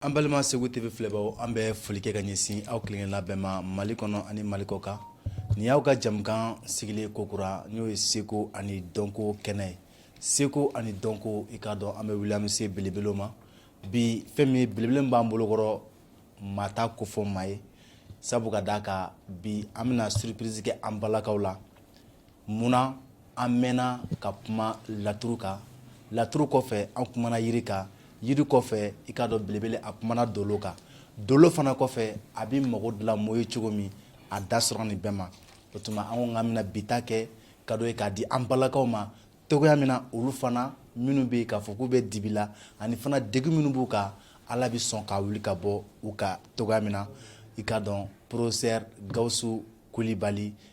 An balima segu TV filɛbagaw an bɛ foli kɛ ka ɲɛsin aw kelenkelenna bɛɛ ma mali kɔnɔ ani mali kɔkan nin y'aw ka jɛmukan sigilen kokura n'o ye seko ani dɔnko kɛnɛ ye seko ani dɔnko i k'a dɔn an bɛ wuli an bɛ se belebelew ma bi fɛn min ye belebele min b'an bolo kɔrɔ maa t'a kofɔ maa ye sabu ka d'a kan bi an bɛna surprise kɛ an balakaw la Munna an mɛnna ka kuma laturu kan laturu kɔfɛ an kumana yiri kan yiri kɔfɛ i k'a dɔn belebele a kumana dolo kan dolo fana kɔfɛ a bɛ mago dilan mɔ ye cogo min a da sera nin bɛɛ ma o tuma an ko k'an bɛna bi ta kɛ kado ye k'a di an balakaw ma cogoya min na olu fana minnu bɛ yen k'a fɔ k'u bɛ dibi la ani fana degun minnu b'u kan ala bɛ sɔn k'a wuli ka bɔ u kan cogoya min na i k'a dɔn professeur Gawusu Kulibali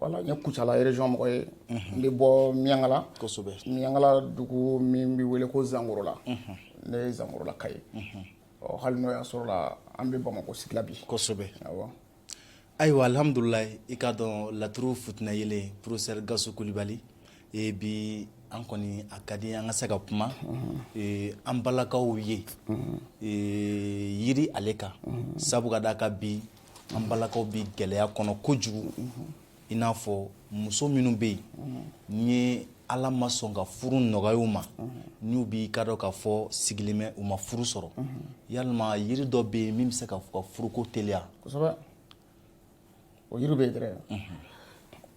Voilà n ye kucala région mɔgɔ ye n bɛ bɔ miyankala kosɛbɛ miyankala dugu min bɛ wele ko zankorola ne ye zankorolaka ye ɔ hali n'o y'a sɔrɔ an bɛ bamakɔ sigi la bi kosɛbɛ ayiwa alihamdulilayi i k'a dɔn laturu futyeele professeur Gawusu Kulibali e bi an kɔni a ka di an ka se ka kuma an balakaw ye yiri ale kan sabu ka d'a kan bi an balakaw bɛ gɛlɛya kɔnɔ kojugu i n'a fɔ muso minnu bɛ yen ni ye ala ma sɔn ka furu nɔgɔya u ma n'u b'i k'a dɔn k'a fɔ sigilen bɛ u ma furu sɔrɔ yalima yiri dɔ bɛ yen min bɛ se k'u ka furuko teliya o yiri bɛ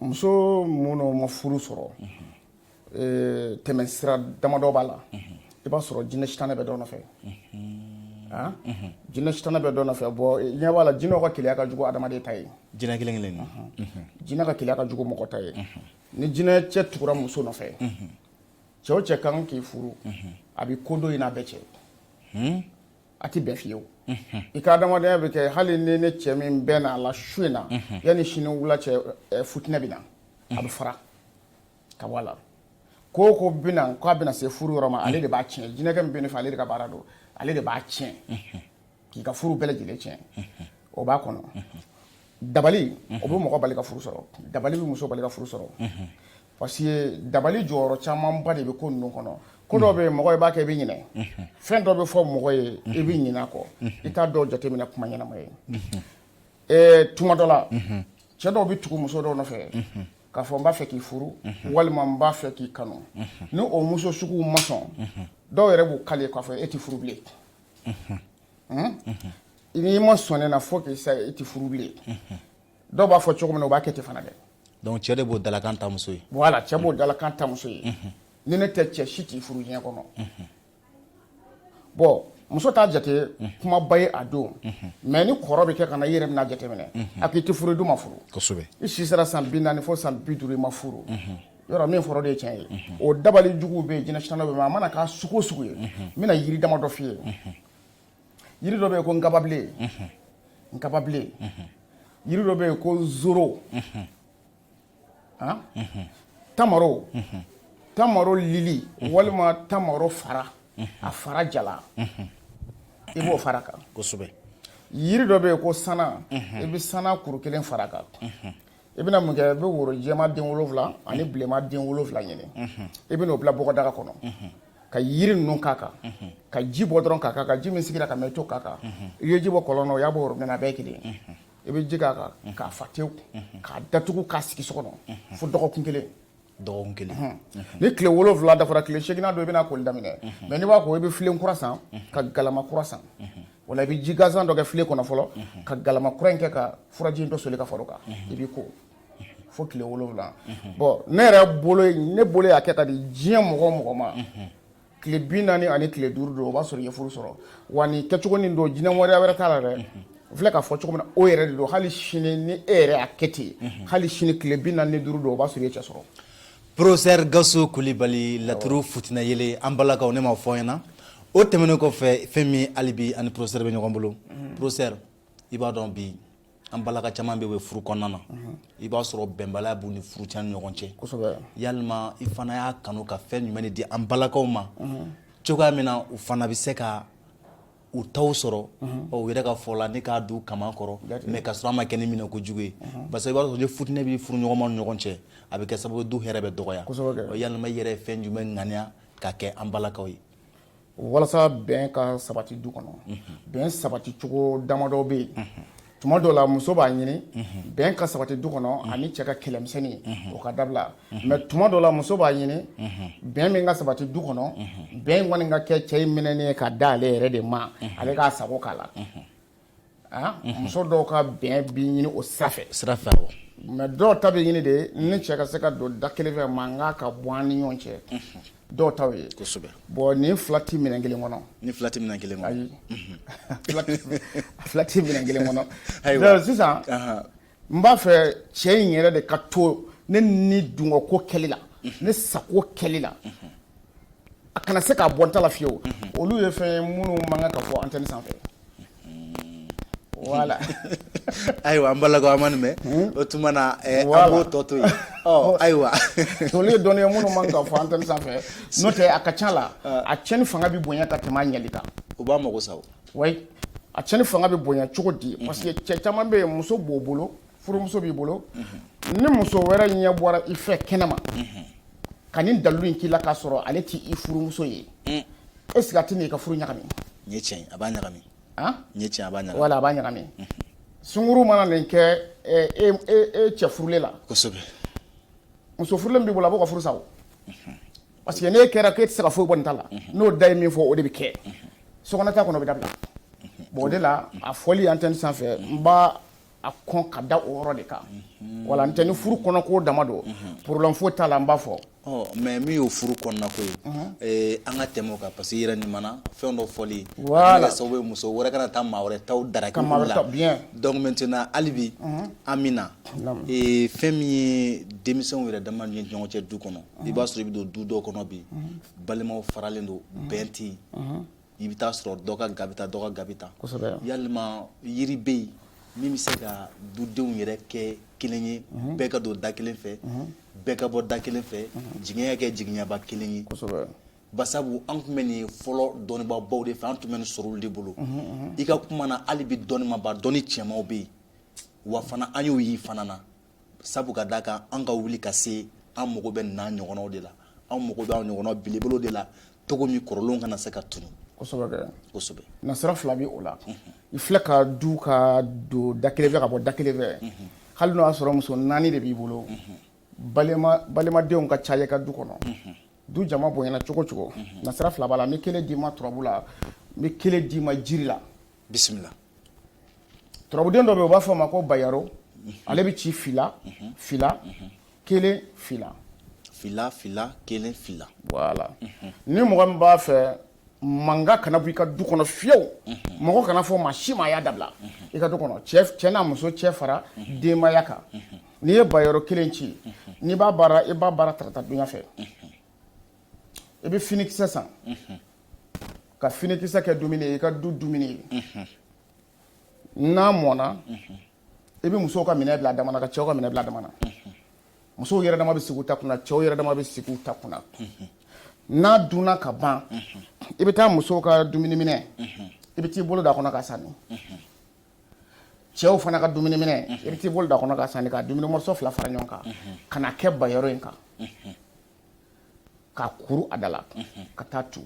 muso minnu ma furu sɔrɔ tɛmɛsira damadɔ b'a la i b'a sɔrɔ jinɛ sitanɛ bɛ dɔ nɔfɛ jinɛ sitanɛ bɛ dɔ nɔfɛ bɔ ɲɛ b'a la jinɛw ka keleya ka jugu adamaden ta ye jinɛ kelen kelen na jinɛ ka keleya ka jugu mɔgɔ ta ye ni jinɛ cɛ tugura muso nɔfɛ cɛ o cɛ kan k'i furu a bɛ ko don i n'a bɛɛ cɛ a tɛ bɛn fiyewu i ka adamadenya bɛɛ kɛ hali n'i ni cɛ min bɛnn'a la su in na yanni sini wula cɛ fitinɛ bɛ na a bɛ fara ka bɔ a la ko ko bɛna k'a bɛna se furu yɔrɔ ma ale de b'a tiɲɛ jinɛkɛ min b'i nɔfɛ ale de ka baara don ale de b'a tiɲɛ k'i ka furu bɛɛ lajɛlen tiɲɛ o b'a kɔnɔ dabali o bɛ mɔgɔ bali ka furu sɔrɔ dabali bɛ muso bali ka furu sɔrɔ parce que dabali jɔyɔrɔ camanba de bɛ ko ninnu kɔnɔ ko dɔ bɛ mɔgɔ i b'a kɛ i bɛ ɲinɛ fɛn dɔ bɛ fɔ mɔgɔ ye i bɛ ɲinɛ a kɔ i t'a dɔw jateminɛ kuma ɲɛnama ye tuma dɔ la cɛ dɔw bɛ tugu muso dɔw nɔfɛ k'a fɔ n b'a fɛ k'i furu walima n b'a fɛ k'i kanu ni o muso sugu ma sɔn dɔw yɛrɛ b'u kali k'a fɔ e tɛ furu bilen n'i ma sɔn ne na fo k'i sa e tɛ furu bilen dɔw b'a fɔ cogo min na u b'a kɛ ten fana dɛ donc cɛ de b'o dalakan ta muso ye voilà cɛ b'o dalakan ta muso ye ni ne tɛ cɛ si t'i furu diɲɛ kɔnɔ bɔn muso t'a jate kumaba ye a don mɛ ni kɔrɔ bɛ kɛ ka na i yɛrɛ bɛna jateminɛ a k'i tɛ furu i dun ma furu i si sera san bi naani fo san bi duuru i ma furu yɔrɔ min fɔra de ye tiɲɛ ye o dabali jugu bɛ jinɛ sina bɛ a mana k'a sugu o sugu ye n bɛna jiri dama dɔ f'i ye jiri dɔ bɛ yen ko nkababilen nkababilen jiri dɔ bɛ yen ko n zoro tamaro tamaro lili walima tamaro fara a fara jalan i b'o fara kan yiri dɔ bɛ yen ko sana i bɛ sana kuru kelen fara kan i bɛna mun kɛ i bɛ woro jɛma den wolonwula ani bilenma den wolonwula ɲini i bɛna o bila bɔgɔdaga kɔnɔ ka yiri ninnu k'a kan ka ji bɔ dɔrɔn k'a kan ka ji min sigira ka mɛɛn tɛ k'a kan i ye ji bɔ kɔlɔn na o y'a bɔ worobinɛ na a bɛɛ ye kelen ye i bɛ ji k'a kan k'a fa tewu k'a datugu k'a sigi so kɔnɔ fo dɔgɔkun kelen dɔgɔkun kelen ni tile wolonwula dafara tile seginnan don i bɛna koli daminɛ mɛ n'i b'i ko i bɛ filen kura san ka galama kura san wala i bɛ ji gansan dɔ kɛ filen kɔnɔ fɔlɔ ka galama kura in kɛ ka furaji in dɔ soli ka fara kan i b'i ko fo tile wolonwula bɔn ne yɛrɛ bolo ne bolo y'a kɛ k'a di diɲɛ mɔgɔ o mɔgɔ ma tile bi naani ani tile duuru don o b'a sɔrɔ i ye furu sɔrɔ wa ni kɛcogo nin don jinɛ wɛrɛ wɛrɛ t'a la dɛ voilà k'a fɔ cogo min na o yɛrɛ de don hali sini ni e yɛrɛ y'a kɛ ten hali sini tile bi naani ni duuru don o b'a sɔrɔ i ye cɛ sɔrɔ professeur gawusu kulibali laturu futina yele an balakaw ne ma fɔ ɲɛna o tɛmɛnen kɔfɛ fɛn min hali bi an ni professeur bɛ ɲɔgɔn bolo professeur i b'a dɔn bi an balaka caman bɛ bɛ furu kɔnɔna na i b'a sɔrɔ bɛnbaliya b'u ni furuɲɔgɔn cɛ yalima i fana y'a kanu ka fɛn jumɛn de di an balakaw ma cogoya min na u fana bɛ se ka u taw sɔrɔ ɔ u yɛrɛ ka fɔ la ne k'a du kaman kɔrɔ mɛ ka sɔrɔ an ma kɛ ni minɛ ko jugu ye parce que i b'a sɔrɔ ni fitinɛ bɛ furuɲɔgɔnma ni ɲɔgɔn cɛ a bɛ kɛ sababu du hɛrɛ bɛ dɔgɔya yalima i yɛrɛ ye fɛn jumɛn ŋaniya ka kɛ an balakaw ye walasa bɛn ka sabati du kɔnɔ bɛn sabati cogo damadɔ bɛ yen tuma dɔ la muso b'a ɲini bɛn ka sabati du kɔnɔ ani cɛ ka kɛlɛmisɛnnin o ka dabila mɛ tuma dɔ la muso b'a ɲini bɛn min ka sabati du kɔnɔ bɛn in kɔni ka kɛ cɛ in minɛnen ye ka da ale yɛrɛ de ma ale k'a sago k'a la muso dɔw ka bɛn bɛ ɲini o sira fɛ sira fɛ mɛ dɔw ta bɛ ɲini de ye ne cɛ ka se ka don da kelen fɛ mankan ka bɔ an ni ɲɔgɔn cɛ dɔw ta ye bɔn ni fila tɛ minɛn kelen kɔnɔ ni fila tɛ minɛn kelen ayi fila tɛ minɛn kelen kɔnɔ sisan n b'a fɛ cɛ in yɛrɛ de ka to ne ni dungɔko kɛli la ne sago kɛli la a kana se k'a bɔ n ta la fiyewu olu ye fɛn ye minnu man kan ka fɔ antɛni sanfɛ voilà ayiwa an balakaw an ma nin mɛn hmm? o tuma na eh, an b'o tɔ to yen oh. ayiwa olu ye dɔnniya minnu man ka fɔ antɛni sanfɛ n'o tɛ a ka ca la ah. a cɛnni fanga bɛ bonya ka tɛmɛ a ɲɛli kan o b'a mago sa o wa a cɛnni fanga bɛ bonya cogo di parce que cɛ caman bɛ yen muso b'o bolo furumuso b'i bolo ni muso wɛrɛ ɲɛ bɔra i fɛ kɛnɛma ka nin dalilu in k'i la k'a sɔrɔ ale tɛ i furumuso ye est-ce que a tɛ i ka furu ɲagami tiɲɛ a b'a ɲagami tiɲɛ a b'a ɲagami wala a b'a ɲagami sungurun mana nin kɛ e cɛ furulen la kosɛbɛ muso furulen b'i bolo a b'o ka furu sa Parce que n'e kɛra k'e tɛ se ka foyi bɔ nin ta la, unhun, n'o da ye min fɔ o de bɛ kɛ, unhun, sokɔnɔta kɔni o bɛ dabila, unhun, bon o de la a fɔli antenne sanfɛ n b'a kɔn ka da o yɔrɔ de kan, unhun, voilà n'o tɛ ni furu kɔnɔko dama don, unhun, problème foyi t'a la n b'a fɔ. Ɔ mais min y'o furu kɔnɔnako ye, unhun, ee an ka tɛmɛ o kan parce que i yɛrɛ nin mana fɛn dɔ fɔli, voilà, a bɛna kɛ sababu ye muso wɛrɛ ka na taa maa wɛrɛ taw draguer, ka maa wɛrɛ taw, bien, donc maintenant hali bi, unhun, Amina, naamu, ee fɛn min ye denmisɛnw yɛrɛ dama ni ɲɔgɔn cɛ du kɔnɔ i b'a sɔrɔ i bɛ don du dɔ kɔnɔ bi balimaw faralen don bɛn tɛ yen i bɛ taa sɔrɔ dɔ ka ga bɛ tan dɔ ka ga bɛ tan yalima yiri bɛ yen min bɛ se ka dudenw yɛrɛ kɛ kelen ye bɛɛ ka don da kelen fɛ bɛɛ ka bɔ da kelen fɛ jiginɛ kɛ jiginɛba kelen ye basabu an tun bɛ nin sɔrɔ dɔnnibabaw de fɛ an tun bɛ nin sɔrɔ olu de bolo i ka kuma na hali bi dɔnnibaba dɔnni cɛmaw bɛ yen wa fana an y'o y'i fana na sabu ka d'a kan an ka wuli ka se an mago bɛ nin ɲɔgɔnw de la an mago bɛ ɲɔgɔn belebolo de la cogo min kɔrɔlenw kana se ka tunun nasira fila bɛ o la i filɛ ka du ka don da kelen fɛ ka bɔ da kelen fɛ hali n'o y'a sɔrɔ muso naani de b'i bolo balimadenw ka ca i ka du kɔnɔ du jama bonyana cogo cogo nasira fila b'a la n bɛ kelen d'i ma turabu la n bɛ kelen d'i ma jiri la bisimila turabuden dɔ bɛ u b'a fɔ a ma ko bayaro ale bɛ ci fila fila kelen fila fila fila kelen fila voilà ni mɔgɔ min b'a fɛ manka kana bɔ i ka du kɔnɔ fiyewu mɔgɔ kan'a fɔ maa si ma a y'a dabila i ka du kɔnɔ cɛ n'a muso cɛ fara denbaya kan n'i ye bayaro kelen ci n'i b'a baara i b'a baara tarata dunya fɛ i bɛ finikisɛ san ka finikisɛ kɛ dumuni ye i ka du dumuni ye n'a mɔna i bɛ musow ka minɛn bila dama na ka cɛw ka minɛn bila dama na musow yɛrɛ dama bɛ sigi ta kunna cɛw yɛrɛ dama bɛ sigi ta kunna n'a dunna ka ban i bɛ taa musow ka dumuni minɛn i bɛ t'i bolo d'a kɔnɔ ka sanni cɛw fana ka dumuni minɛn i bɛ t'i bolo d'a kɔnɔ ka sanni ka dumuni mɔrɔso fila fara ɲɔgɔn kan ka na kɛ bayɔrɔ in kan ka kuru a da la ka taa tu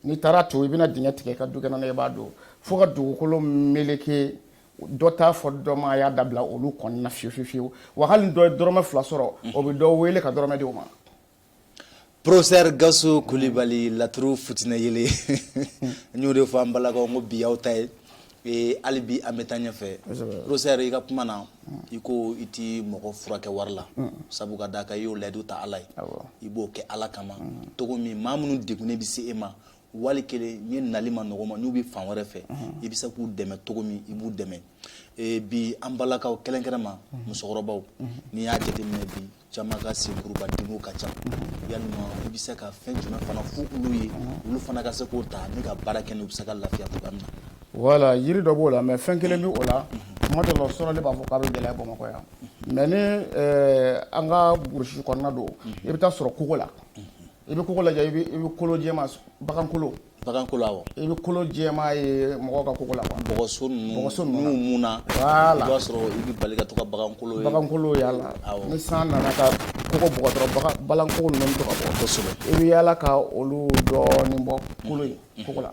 n'i taara tu i bɛna dingɛ tigɛ ka dukɛnɛ na i b'a don fo ka dugukolo meleke dɔ t'a fɔ dɔ ma a y'a dabila olu kɔni na fiyewu fiyewu fiyewu wa hali dɔ ye dɔrɔmɛ fila sɔrɔ o bɛ dɔ wele ka dɔrɔmɛ di o ma Professeur Gasu Kulibali laturu futinɛ yele n y'o de fɔ an balakaw ko bi y'aw ta ye Ee hali bi an bɛ taa ɲɛfɛ Professeur i ka kuma na i ko i tɛ mɔgɔ furakɛ wari la sabu ka d'a kan i y'o layidu ta ala ye i b'o kɛ ala kama cogo min maa minnu degunnen bɛ se e ma wali kelen ye nali man nɔgɔ ma n'u bɛ fan wɛrɛ fɛ i bɛ se k'u dɛmɛ cogo min i b'u dɛmɛ bi an balakaw kɛrɛnkɛrɛnma musokɔrɔbaw n'i y'a jate minɛ bi caman ka senkuruba dimiko ka ca yalima i bɛ se ka fɛn jumɛn fana fɔ olu ye olu fana ka se k'o ta ni ka baara kɛ n'u bɛ se ka lafiya cogoya min na voilà yiri dɔ b'o la mɛ fɛn kelen bɛ o la kuma dɔ la o sɔrɔ ne b'a fɔ k'a bɛ gɛlɛya bamakɔ yan mɛ ni an ka burusi kɔnɔna don i bɛ t'a sɔrɔ kogo la i bɛ kogo lajɛ i bɛ kolo jɛma bagankolo Baganko la wa? I bɛ kolo jɛma ye mɔgɔ ka koko la wa? Bɔgɔso ninnu, bɔgɔso ninnu na, n'u munna, voilà, i b'a sɔrɔ i bɛ bali ka to ka bagankolo ye, bagankolo ye a la, awɔ, ni san nana ka koko bugɔ dɔrɔn bagan bagankolo ninnu bɛ to ka bɔ, kosɛbɛ, i bɛ yaala ka olu dɔɔni bɔ kolo in koko la,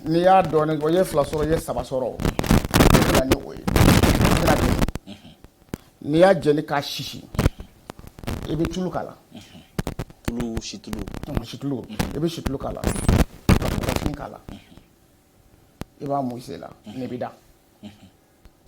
n'i y'a dɔɔni bɔ i ye fila sɔrɔ i ye saba sɔrɔ o i bɛ na ni o ye, n'i y'a jeni k'a sisi i bɛ tulu k'a la tulu situlu situlu i bɛ situlu k'a la ka kɔkɔfin k'a la i b'a mun i la n'i bɛ da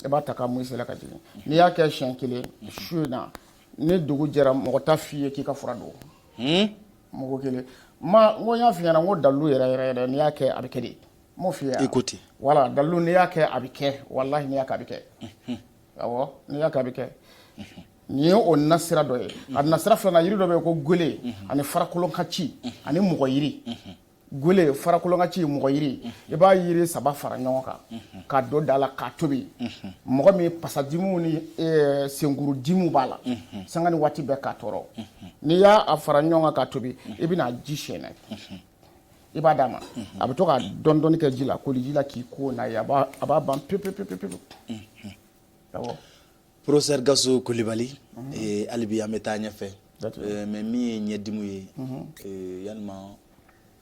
i b'a ta k'a mun i la ka jigin n'i y'a kɛ siɲɛ kelen su in na ni dugu jɛra mɔgɔ t'a f'i ye k'i ka fura don hmm? mɔgɔ kelen ma n ko n y'a f'i ɲɛna n ko dalilu yɛrɛ yɛrɛ yɛrɛ n'i y'a kɛ a bɛ kɛ de m'o f'i ye i ko ten wala dalilu n'i y'a kɛ a bɛ kɛ walahi n'i y'a kɛ a bɛ kɛ awɔ n'i y'a kɛ a bɛ kɛ Nin ye o nasira dɔ ye a nasira filanan jiri dɔ bɛ yen ko gele ani farakolon ka ci ani mɔgɔyiri gele farakolon ka ci mɔgɔyiri i b'a jiri saba fara ɲɔgɔn kan k'a don daa la k'a tobi mɔgɔ min pasadimu ni senkuru dimu b'a la sanga ni waati bɛɛ k'a tɔɔrɔ n'i y'a fara ɲɔgɔn kan k'a tobi i bɛna ji sɛɛnɛ i b'a d'a ma a bɛ to ka dɔɔni dɔɔni kɛ ji la koji la k'i ko a b'a ban pep pe pe pe Professeur Gasu Kulibali ee hali bi an bɛ taa ɲɛfɛ mais min ye ɲɛdimu ye ee yalima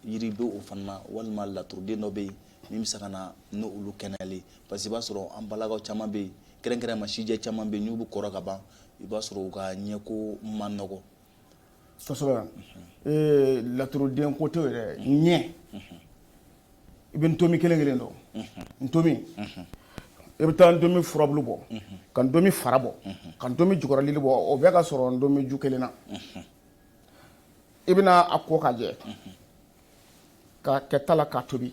yiri bɛ o fana na walima laturuden dɔ bɛ yen min bɛ se ka na ni olu kɛnɛyali parce que i b'a sɔrɔ an balakaw caman bɛ yen kɛrɛnkɛrɛnma sijɛ caman bɛ yen n'u bɛ kɔrɔ ka ban i b'a sɔrɔ u ka ɲɛko man nɔgɔn kosɛbɛ ee laturuden ko tɛ yɛrɛ ɲɛ i bɛ ntomi kelen kelen dɔn ntomi i bɛ taa ntomi furabulu bɔ ka ntomi fara bɔ ka ntomi jukɔrɔlili bɔ o bɛɛ ka sɔrɔ ntomi ju kelen na i bɛna a ko ka jɛ k'a kɛ ta la k'a tobi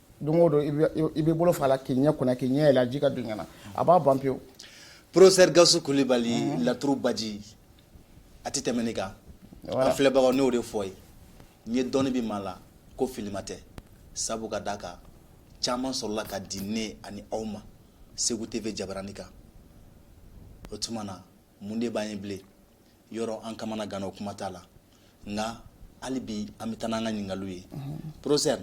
don o don i b'i bolo fa a la k'i ɲɛ ko n'a ye k'i ɲɛ yɛlɛ ji ka don ɲɛ na a b'a ban pewu Professeur Gasu Kulibali mhm. laturu baji a tɛ tɛmɛ nin kan an filɛbagaw n'o de fɔ ye n ye dɔnni bɛ maa la ko filima tɛ sabu ka d'a kan caman sɔrɔla ka di ne ani aw ma Segu TV jabarani kan o tuma na mun de b'an ye bilen yɔrɔ an kamanaganna o kuma t'a la nka hali bi an bɛ taa n'an ka ɲininkaliw ye professeur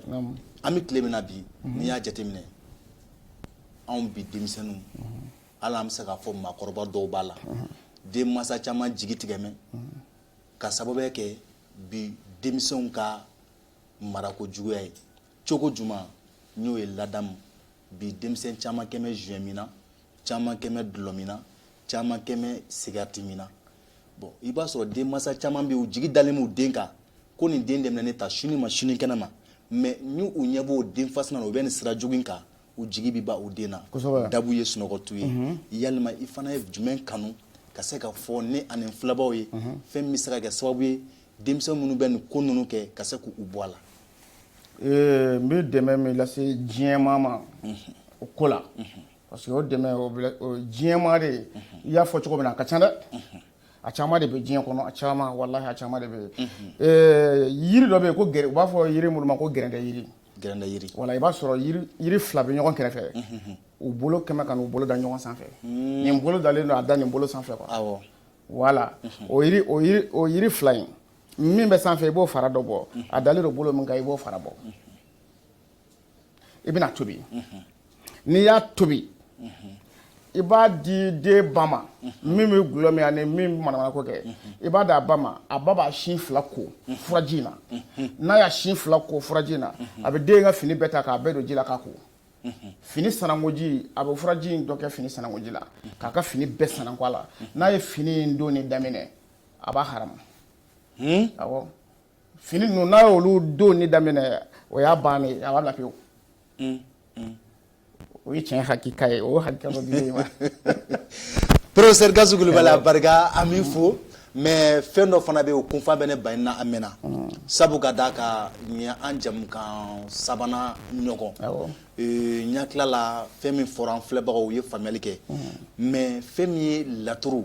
an bɛ tile min na bi n'i y'a jateminɛ anw bi denmisɛnninw hali an bɛ se k'a fɔ maakɔrɔba dɔw b'a la denmansa caman jigi tigɛmɛ ka sababuya kɛ bi denmisɛnw ka marako juguya ye cogo juma n'o ye ladamu bi denmisɛn caman kɛmɛ joint min na caman kɛmɛ dulɔmin na caman kɛmɛ sigarɛti min na bon i b'a sɔrɔ denmansa caman bɛ u jigi dalen b'u den kan ko nin den de bɛna ne ta sini ma sini kɛnɛ ma mais ni u ɲɛ b'o den fasina na u bɛ nin sira jugu in kan u jigi bɛ bɔ u den na dabu ye sunɔgɔtu ye mhm. yalima i fana ye jumɛn kanu ka se ka fɔ ne ani filɛbaw ye mhm. fɛn min bɛ se ka kɛ sababu ye denmisɛn minnu bɛ nin ko ninnu kɛ ka se k'u bɔ a la Ee n bɛ dɛmɛ min lase diɲɛmaa ma o ko la parce que o dɛmɛ diɲɛmaa de ye i y'a fɔ cogo min na a ka ca dɛ a caman de bɛ diɲɛ kɔnɔ a caman wala a caman de bɛ yen yiri dɔ bɛ yen ko u b'a fɔ yiri minnu ma ko gɛrɛ jiri g jiri wala i b'a sɔrɔ yiri fila bɛ ɲɔgɔn kɛrɛfɛ u bolo kɛmɛ k'u bolo da ɲɔgɔn sanfɛ nin bolo dalen don a da nin bolo sanfɛ wala o o yiri fila in min bɛ sanfɛ i b'o fara dɔ bɔ a dalen don bolo min kan i b'o fara bɔ i bɛna a tobi n'i y'a tobi i b'a di den ba ma min bɛ dulɔ min ani min bɛ manamanako kɛ i b'a di a ba ma a ba b'a sin fila ko furaji in na n'a y'a sin fila ko furaji in na a bɛ den ka fini bɛɛ ta k'a bɛɛ don ji la k'a ko fini sanangoji a bɛ furaji in dɔ kɛ fini sanangoji la k'a ka fini bɛɛ sanango a la n'a ye fini in donni daminɛ a b'a ha fini ninnu n'a ye olu dɔnni daminɛ o y'a ban a b'a lafiyewu o ye tiɲɛ hakiliki ye o hakili porofesɛri gawusu kulubali barika an b'i fo mɛ fɛn dɔ fana bɛ yen o kunfa bɛ ne ba na a mɛn sabu ka d'a kan ɲɛ an jɛmukan sabanan ɲɔgɔn ɲa tilala fɛn min fɔra an filɛbagaw u ye faamuyali kɛ mɛ fɛn min ye laturu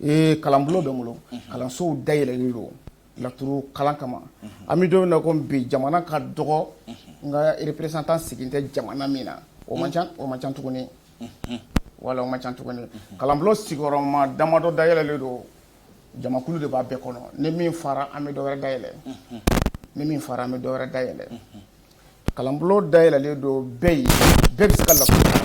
Ee kalan bulon bɛ n bolo kalansow da yɛlɛlen don laturu kalan kama an bɛ don min na ko bi jamana ka dɔgɔ n ka representant sigilen tɛ jamana min na o man ca o man ca tuguni wala o man ca tuguni kalan bulon sigiyɔrɔma damadɔ da yɛlɛlen don jamakulu de b'a bɛɛ kɔnɔ ni min fara an bɛ dɔ wɛrɛ da yɛlɛ ni min fara an bɛ dɔ wɛrɛ da yɛlɛ kalan bulon da yɛlɛlen don bɛɛ ye bɛɛ bɛ se ka laturu kalan.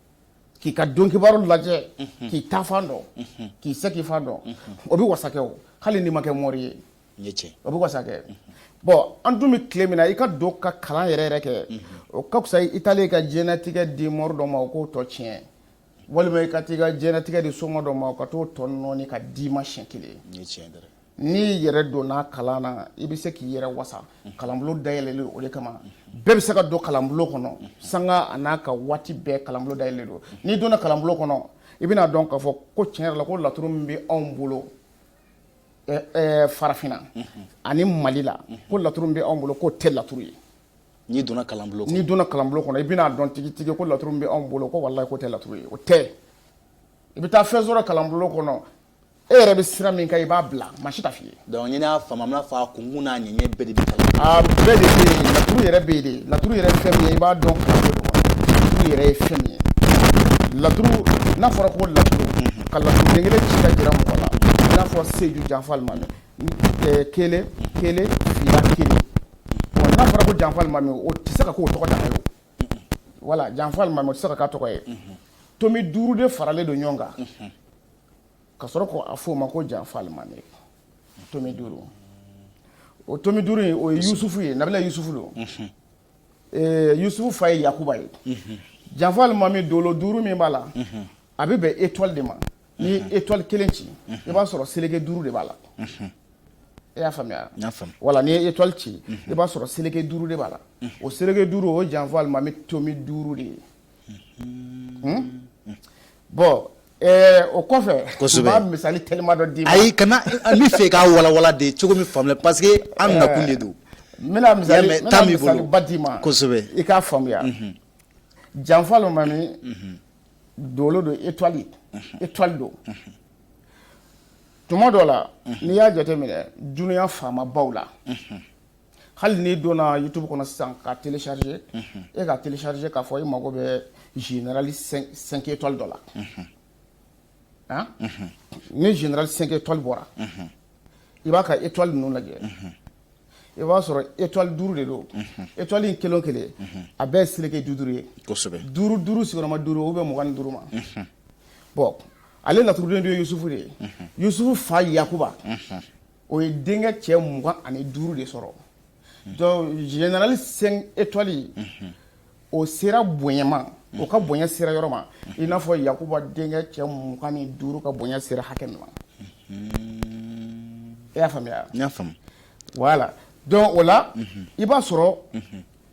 k'i ka don kibaru lajɛ k'i taafan dɔn k'i seginfan dɔn o bɛ wasa kɛ o hali n'i ma kɛ mori ye o bɛ wasa kɛ bɔn an dun bɛ tile min na i ka don ka kalan yɛrɛ yɛrɛ kɛ o ka fisa i taalen ka diɲɛnatigɛ di mori dɔ ma o k'o tɔ tiɲɛ walima i ka taa i ka diɲɛnatigɛ di soma dɔ ma ka t'o tɔ nɔɔni ka d'i ma siɲɛ kelen ye N'i y'i yɛrɛ don a kalan na i bɛ se k'i yɛrɛ wasa kalanbulon dayɛlɛlen o de kama bɛɛ bɛ se ka don kalanbulon kɔnɔ sanga a n'a ka waati bɛɛ kalanbulon dayɛlɛlen don n'i donna kalanbulon kɔnɔ i bɛna a dɔn k'a fɔ ko tiɲɛ yɛrɛ la ko laturu min bɛ anw bolo farafinna ani mali la ko laturu bɛ anw bolo k'o tɛ laturu ye n'i donna kalanbulon n'i donna kalanbulon kɔnɔ i bɛna a dɔn tigitigi ko laturu bɛ anw bolo ko wala k'o tɛ laturu ye o tɛ i bɛ taa fɛn sɔrɔ kalanbulon kɔnɔ e yɛrɛ bɛ sira min kan i b'a bila maa si t'a f'i ye. donc ni ne y'a faamu an bɛna fɔ a kunkun n'a ɲɛɲɛ bɛɛ de bɛ kalan. a bɛɛ de bɛ yen laturu yɛrɛ bɛ yen de laturu yɛrɛ ye fɛn min ye i b'a dɔn k'a fɔ laturu yɛrɛ ye fɛn min ye laturu n'a fɔra ko laturu ka laturu den kelen ci k'a jira mɔgɔ la i n'a fɔ seju janfa alimami eh, kelen kelen fila kelen bon n'a fɔra ko janfa alimami o tɛ se ka k'o tɔgɔ dan ye o wala janfa alimami o tɛ se ka k'a tɔgɔ ye tomi duuru de faralen don ɲɔgɔn kan. ka sɔrɔ ka a f'o ma ko janfa alimami tomi duuru o tomi duuru in o ye yusufu ye nabila yusufu don yusufu fa ye yakuba ye janfa alimami dolo duuru min b'a la a bɛ bɛn etwali de ma n'i ye etwali kelen ci i b'a sɔrɔ seleke duuru de b'a la e y'a faamuya wala n'i ye etwali ci i b'a sɔrɔ seleke duuru de b'a la o seleke duuru o janfa alimami tomi duuru de ye bon ɛɛ o kɔfɛ kosɛbɛ n b'a misali teliman dɔ d'i ma ayi kana n b'a fɛ k'a walawala de cogo min faamuya parce que an nakun de don n bɛna misali n bɛna misali ba d'i ma kosɛbɛ i k'a faamuya mhm. janfa alimami mhm. dolo don étoile mhm. étoile don tuma dɔ la n'i y'a jateminɛ dunuya faamabaw la hali n'i donna youtube kɔnɔ sisan k'a télécharger i k'a télécharger k'a fɔ i mago bɛ général 5 étoiles dɔ la han ni général 5 étoiles bɔra i b'a ka étoile ninnu lajɛ i b'a sɔrɔ étoile duuru de don étoile in kelen o kelen a bɛɛ ye seleke duuru ye kosɛbɛ duuru duuru sigiyɔrɔma duuru o bɛ bɛn mugan ni duuru ma bon ale laturuden dun ye yusufu de ye yusufu fa yakuba o ye denkɛ cɛ mugan ani duuru de sɔrɔ général cinq étoiles o sera bonyama o ka bonya sera yɔrɔ ma i n'a fɔ yakuba denkɛ cɛ mugan ni duuru ka bonya sera hakɛ min ma i y'a faamuya y'a faamuya voilà donc o la i b'a sɔrɔ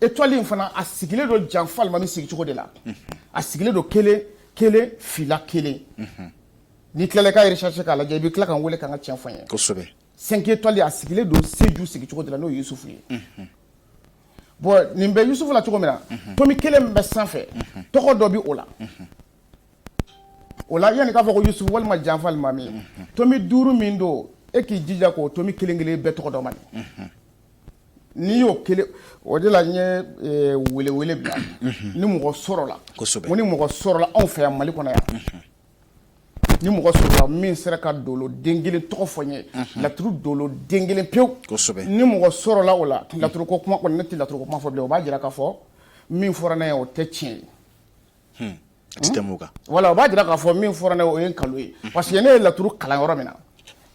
étoile in fana a sigilen don janfa alimami sigicogo de la a sigilen don kelen kelen fila kelen n'i tilala ka recherche k'a lajɛ i bɛ tila ka n wele ka n ka tiɲɛ fɔ n ye kosɛbɛ cinq étoiles a sigilen don Seju sigicogo de la n'o ye Yusufu ye bon nin bɛ Yusufu la cogo min na komi kelen min bɛ sanfɛ tɔgɔ dɔ bɛ o la o la yanni k'a fɔ ko Yusufu walima janfa alimami tomi duuru min don e k'i jija k'o tomi kelen kelen bɛɛ tɔgɔ dɔn man n'i y'o kelen o de la n ye welewele bila ni mɔgɔ sɔrɔla kosɛbɛ ni mɔgɔ sɔrɔla anw fɛ yan Mali kɔnɔ yan ni mɔgɔ sɔrɔla min sera ka dolo den kelen tɔgɔ fɔ n ye laturu dolo den kelen pewu ni mɔgɔ sɔrɔla o la laturu ko kuma ne tɛ laturu kuma fɔ bilen o b'a jira k'a fɔ min fɔra ne ye o tɛ tiɲɛ ye hmm. Hmm? wala o b'a jira k'a fɔ min fɔra ne o ye nkalon ye hmm. parce que ne ye laturu kalan yɔrɔ min na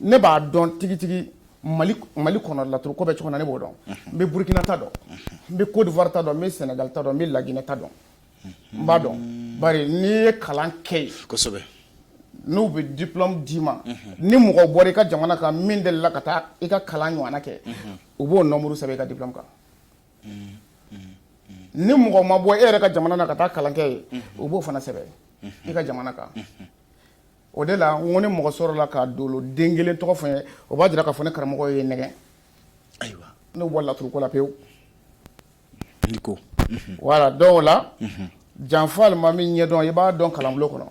ne b'a dɔn tigitigi mali kɔnɔ laturu ko bɛ cogo min na ne b'o dɔn n bɛ burukina ta dɔn n bɛ kɔdiwari ta dɔn n bɛ sɛnɛgali ta dɔn n bɛ laginɛ ta dɔn n b'a dɔn bari n'i ye kalan kɛ yen kosɛbɛ n'u bɛ diplôme d'i ma ni mɔgɔ bɔra i ka jamana kan min delila ka taa i ka kalan ɲɔgɔnna kɛ u b'o nombre sɛbɛn i ka diplôme kan ni mɔgɔ ma bɔ e yɛrɛ ka jamana na ka taa kalan kɛ yen u b'o fana sɛbɛn i ka jamana kan o de la n ko ni mɔgɔ sɔrɔla ka dolo den kelen tɔgɔ fɔ n ye o b'a jira k'a fɔ ne karamɔgɔ ye n nɛgɛn ayiwa ne bɛ bɔ laturuko la pewu wala dɔw la janfa alimami ɲɛ dɔn i b'a dɔn kalanbulon kɔnɔ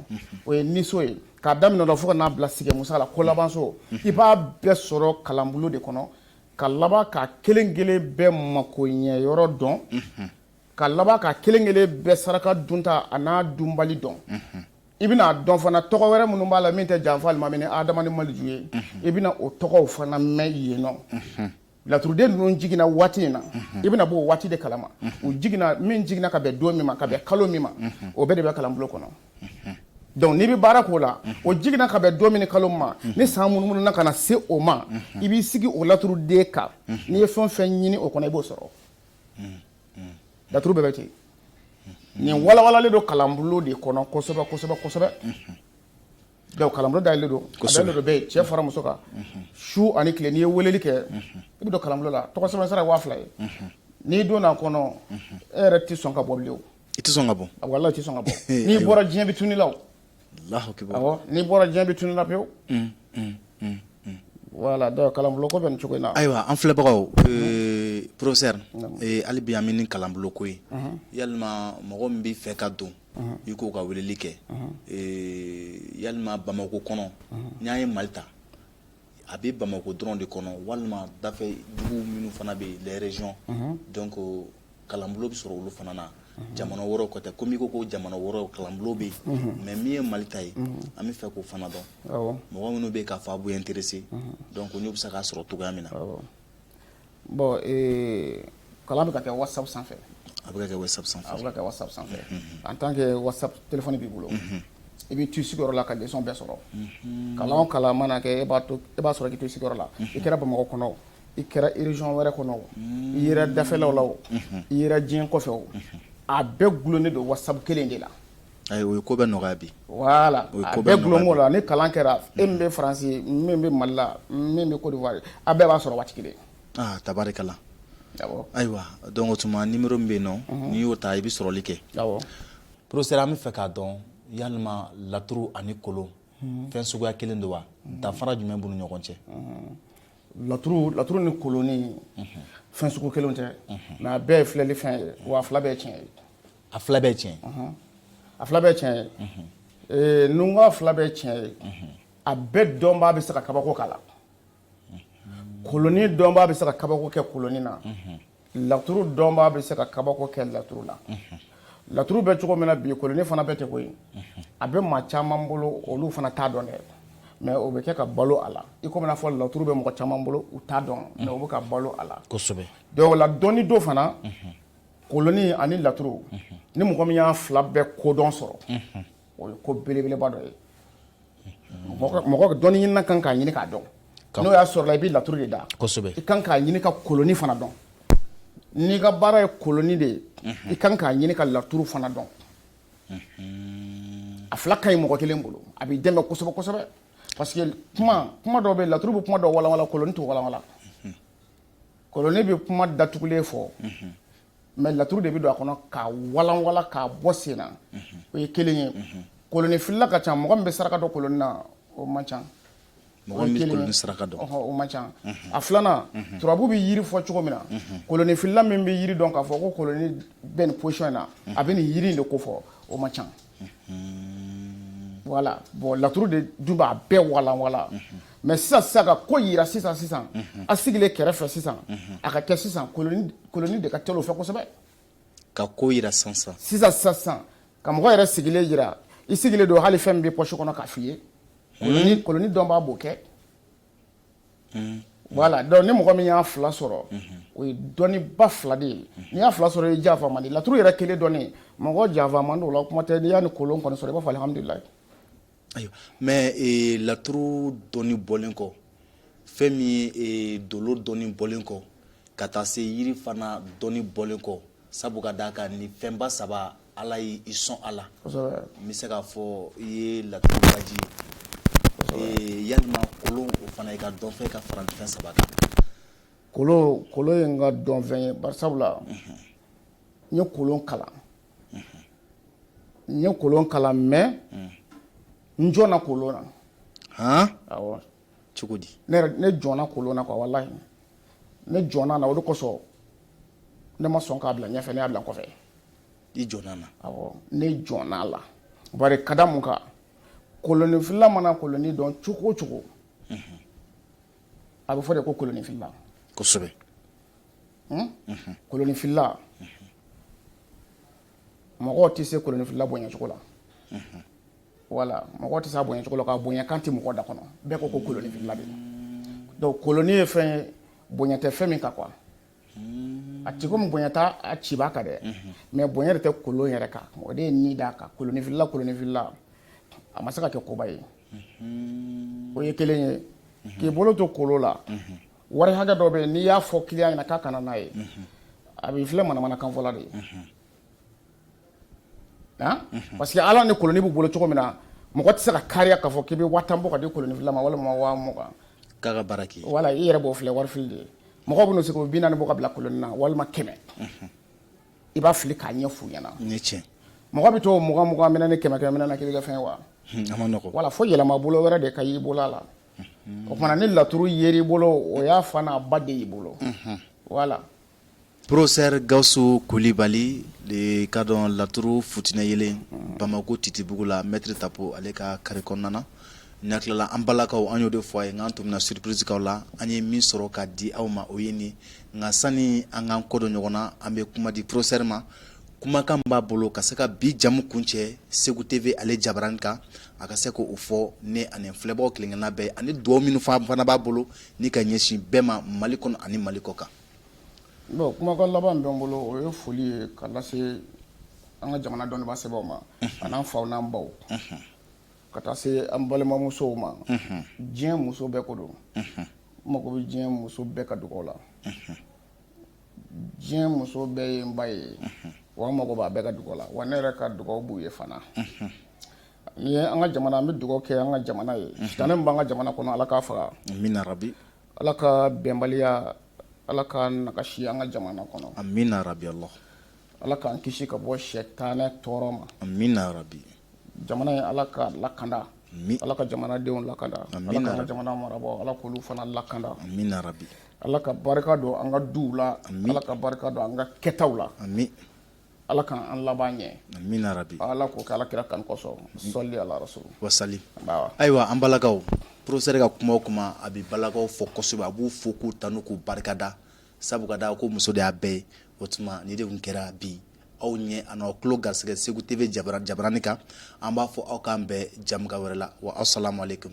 o ye niso ye k'a daminɛ fo ka n'a bila sigi musa la kolabanso i b'a bɛɛ sɔrɔ kalanbulon de kɔnɔ ka laban ka kelen kelen bɛɛ mako ɲɛ yɔrɔ dɔn ka laban ka kelen kelen bɛɛ saraka dunta a n'a dunbali dɔn i bɛn'a dɔn fana tɔgɔ wɛrɛ minnu b'a la min tɛ janfa alimami ni adama maliju ye i bɛna o tɔgɔw fana mɛn yen nɔ Laturuden ninnu jiginna waati in na i bɛna bɔ o waati de kalama u jiginna min jiginna ka bɛn don min ma ka bɛn kalo min ma o bɛɛ de bɛ kalanbulon kɔnɔ donc n'i bɛ baara k'o la o jiginna ka bɛn don min kalo min ma ni san munumununa ka na se o ma i b'i sigi o laturuden kan n'i ye fɛn fɛn ɲini o kɔnɔ i b'o sɔrɔ laturu bɛɛ bɛ ten nin walawalalen don kalanbulon de kɔnɔ kosɛbɛ kosɛbɛ kosɛbɛ Donc kalanbulon dayɛlɛlen don, a dayɛlɛlen don bɛɛ ye, cɛ fara muso kan, unhun, su ani tile n'i ye weleli kɛ, unhun, i bɛ don kalanbulon la tɔgɔ sɛbɛn sira ye 2000 ye, unhun, n'i donna a kɔnɔ, unhun, e yɛrɛ tɛ sɔn ka bɔ bilen o, i tɛ sɔn ka bɔ, walahi i tɛ sɔn ka bɔ, n'i bɔra diɲɛ bɛ tunun i la o, Alahu akibaru, awɔ, n'i bɔra diɲɛ bɛ tunun i la pewu, un un un un, voilà donc kalanbulon ko bɛ nin cogo in na, ayiwa an filɛbagaw professeur hali bi an bɛ ni kalanbulon ko ye, unhun, yalima mɔgɔ min bɛ fɛ ka don i k'u ka weleli kɛ yalima bamakɔ kɔnɔ n y'a ye mali ta a bɛ bamakɔ dɔrɔn de kɔnɔ walima dafɛ dugu minnu fana bɛ yen les régions donc kalanbulon bɛ sɔrɔ olu fana na jamana wɛrɛw ko tɛ comme i ko jamana wɛrɛ kalanbulon bɛ yen mais min ye mali ta ye an bɛ fɛ k'o fana dɔn mɔgɔ minnu bɛ k'a fɔ a b'u intéresser donc u bɛ se k'a sɔrɔ cogoya min na Bon ee kalan bɛ ka kɛ whatsapp sanfɛ, a bɛ ka kɛ whatsapp sanfɛ, a bɛ ka kɛ whatsapp sanfɛ en tant que whatsapp telephone b'i bolo, unhun, i bɛ to i sigiyɔrɔ la ka leçon bɛɛ sɔrɔ, unhun, kalan o kalan mana kɛ e b'a to e b'a sɔrɔ k'i to i sigiyɔrɔ la, unhun, i kɛra Bamakɔ kɔnɔ o, i kɛra région wɛrɛ kɔnɔ o, unhun, i yera dafɛlaw la o, unhun, i yera diɲɛ kɔfɛ o, unhun, a bɛɛ dulonnen don whatsapp kelen in de la, Ayiwa ko bɛ nɔgɔya bi wala bɛlonko la ni kalan kɛra e min bɛ faransi min bɛ Mali la min bɛ Côte d'Ivoire a bɛɛ b'a sɔrɔ waati kelen tari kalan ayiwa donc tuma ni min bɛ yen nɔn n'i y'o ta i bɛ sɔrɔli kɛ professeur an bɛ fɛ k'a dɔn yalima laturu ani kolon fɛn suguya kelen don wa danfara jumɛn b'u ni ɲɔgɔn cɛ laturu laturu ni kolonnin fɛn sugu kelen tɛ mais a bɛɛ ye filɛli fɛn ye wa fila bɛɛ tiɲɛ ye a fila bɛɛ tiɲɛ a fila bɛɛ tiɲɛ ye n ko a fila bɛɛ tiɲɛ ye a bɛɛ dɔnbaa bɛ se ka kabako k'a la kolonin dɔnbaa bɛ se ka kabako kɛ kolonin na laturu dɔnbaa bɛ se ka kabako kɛ laturu la laturu bɛ cogo min na bi kolonin fana bɛ ten koyi a bɛ maa caman bolo olu fana t'a dɔn dɛ mais o bɛ kɛ ka balo a la i komi n'a fɔ laturu bɛ mɔgɔ caman bolo u t'a dɔn mais o bɛ ka balo a la kosɛbɛ dɔw la dɔni don fana Koloni ani laturu ni mɔgɔ min y'a fila bɛɛ kodɔn sɔrɔ o ye ko belebeleba dɔ ye mɔgɔ dɔnni ɲini kan k'a ɲini k'a dɔn n'o y'a sɔrɔ la i bɛ laturu de da i kan k'a ɲini ka koloni fana dɔn n'i ka baara ye koloni de ye i kan k'a ɲini ka laturu fana dɔn a fila ka ɲi mɔgɔ kelen bolo a b'i dɛmɛ kosɛbɛ kosɛbɛ parce que kuma kuma dɔw bɛ laturu bɛ kuma dɔw walanwalan koloni tɛ walanwalan Kolonnin bɛ kuma datugulen fɔ mais laturu de bɛ don a kɔnɔ k'a walanwalan k'a bɔ sen na o ye kelen ye kolonin filila ka ca mɔgɔ min bɛ saraka dɔn kolonin na o man ca saraka o man ca a filanan turabu bɛ yiri fɔ cogo min na kolonin filila min bɛ yiri dɔn k'a fɔ ko kolonin bɛ nin position in na a bɛ nin yiri de ko fɔ o man ca voilà bon laturu de dun b'a bɛɛ walanwalan mais sisan sisan ka ko yira sisan sisan a sigilen kɛrɛfɛ sisan a ka kɛ sisan koloni de ka teli o fɛ kosɛbɛ ka ko yira sisan sisan sisan ka mɔgɔ yɛrɛ sigilen yira i sigilen don hali fɛn min b'i pɔsi kɔnɔ k'a f'i ye koloni dɔnbaa b'o kɛ mm. voilà donc ni mɔgɔ min y'a fila sɔrɔ o ye dɔnniba fila de ye n'i y'a fila sɔrɔ e janfa man di laturu yɛrɛ kelen dɔnni mɔgɔ janfa man di o la kuma tɛ n'i y'a ni kolon kɔni sɔrɔ i b'a fɔ alihamudulilayi ayiwa mais eh, laturu dɔnni bɔlen kɔ fɛn min ye eh, dolo dɔnni bɔlen kɔ ka taa se yiri fana dɔnni bɔlen kɔ sabu ka d'a kan nin fɛnba saba Ala y'i son a la n bɛ se k'a fɔ i ye laturubaji ye yala kolon o fana i ka dɔnfɛn ye ka fara fɛn saba kan kolon ye n ka dɔnfɛn ye bari sabu la n ye kolon kalan n ye kolon kalan mais n jɔnna kolon na h cogo di ne jɔnna kolon na wallahi ne jɔnna a la o de kosɔn ne ma sɔn k'a bila ɲɛfɛ ne y'a bila kɔfɛ i jɔnna ne jɔnna a la bari ka da mun kan kolonifilila mana koloni dɔn cogo o cogo mhm. a bɛ fɔ de ko kolonifilila kosɛbɛ hmm? mhm. kolonifilila mhm. mɔgɔw tɛ se kolonifilila bonyacogo la voilà mɔgɔ tɛ se a bonyacogo la a ka bonyakan tɛ mɔgɔ da kɔnɔ bɛɛ ko ko kolonifilila de donc koloni ye fɛn ye bonya tɛ fɛn min ka ko la a tɛ komi bonya t'a cibaa kan dɛ mais bonya yɛrɛ tɛ kolon yɛrɛ kan o de ye ni d'a kan kolonifilila kolonifilila a ma se ka kɛ koba ye o ye kelen ye k'i bolo to kolon la wari hakɛ dɔ bɛ n'i y'a fɔ kiliyan ɲɛna k'a ka na n'a ye a b'i filɛ manamanakanfɔla de ye parce que ala ni koloni b'u bolo cogo min na mɔgɔ tɛ se ka kariya k'a fɔ k'i bɛ waa tan bɔ k'a di kolonifilila ma walima waa mugan k'a ka baara k'i ye wala i yɛrɛ b'o filɛ wari fili de ye mɔgɔ bɛna se ka bi naani bɔ k'a bila koloni na walima kɛmɛ i b'a fili k'a ɲɛf'u ɲɛna ni tiɲɛ mɔgɔ bɛ to mugan mugan minɛ ni kɛmɛ kɛmɛ minɛ na k'i bɛ kɛ fɛn wa a man nɔgɔ wala fo yɛlɛma bolo wɛrɛ de ka y'i bolo a la o tumana ni laturu yer'i bolo o y'a fa n'a ba de y'i bolo wala Professeur Gawusu Kulibali le cadre laturu futinɛyelen Bamako Titibugu la maitre tapo ale ka carré kɔnɔna na ni a tilala an balakaw an y'o de fɔ aw ye k'an tun bɛna surprise k'aw la an ye min sɔrɔ k'a di aw ma o ye nin ye nka sani an k'an kɔdon ɲɔgɔn na an bɛ kuma di professeur ma kumakan min b'a bolo ka se ka bi jɛmu kuncɛ Segu TV ale jabaranin kan a ka se k'o fɔ ne ani filɛbagaw kelen-kelenna bɛɛ ye ani dugawu minnu fana b'a bolo ni ka ɲɛsin bɛɛ ma Mali kɔnɔ ani Mali kɔkan Bon kumakan laban bɛ n bolo o ye foli ye ka lase an ka jamana dɔnnibaa sɛbɛw ma an'an faw n'an baw ka taa se an balimamusow ma diɲɛ muso bɛɛ ko don mako bɛ diɲɛ muso bɛɛ ka dugaw la diɲɛ muso bɛɛ ye n ba ye wa n mako b'a bɛɛ ka dugawu la wa ne yɛrɛ ka dugawu b'u ye fana n ye an ka jamana an bɛ dugawu kɛ an ka jamana ye ta min b'an ka jamana kɔnɔ ala k'a faga bi Ala ka bɛnbaliya Ala k'a nagasi an ka jamana kɔnɔ. Amina yarabi Alahu. Ala k'an kisi ka bɔ sɛtanɛ tɔɔrɔ ma. Amina yarabi. Jamana in Ala k'a lakanda. Ami. Ala ka jamanadenw lakanda. Amina yarabi. Ala k'an ka jamana marabaaw Ala k'olu fana lakanda. Amina yarabi. Ala ka barika don an ka duw la. Ami. Ala ka barika don an ka kɛtaw la. Ami. Ala ka an laban ɲɛ amina yarabi ala ko ala kira kan kosɔn sɔli ala wa salim ayiwa an balakaw professeur ka kuma o kuma a bɛ balakaw fo kosɛbɛ a b'u fo k'u tanu k'u barikada sabu ka da ko muso de y'a bɛɛ ye o tuma nin de tun kɛra bi aw ɲɛ an'aw tulo garisɛgɛ Segu TV jabaranin kan an b'a fɔ aw k'an bɛn jɛmukan wɛrɛ la wa asalamalekum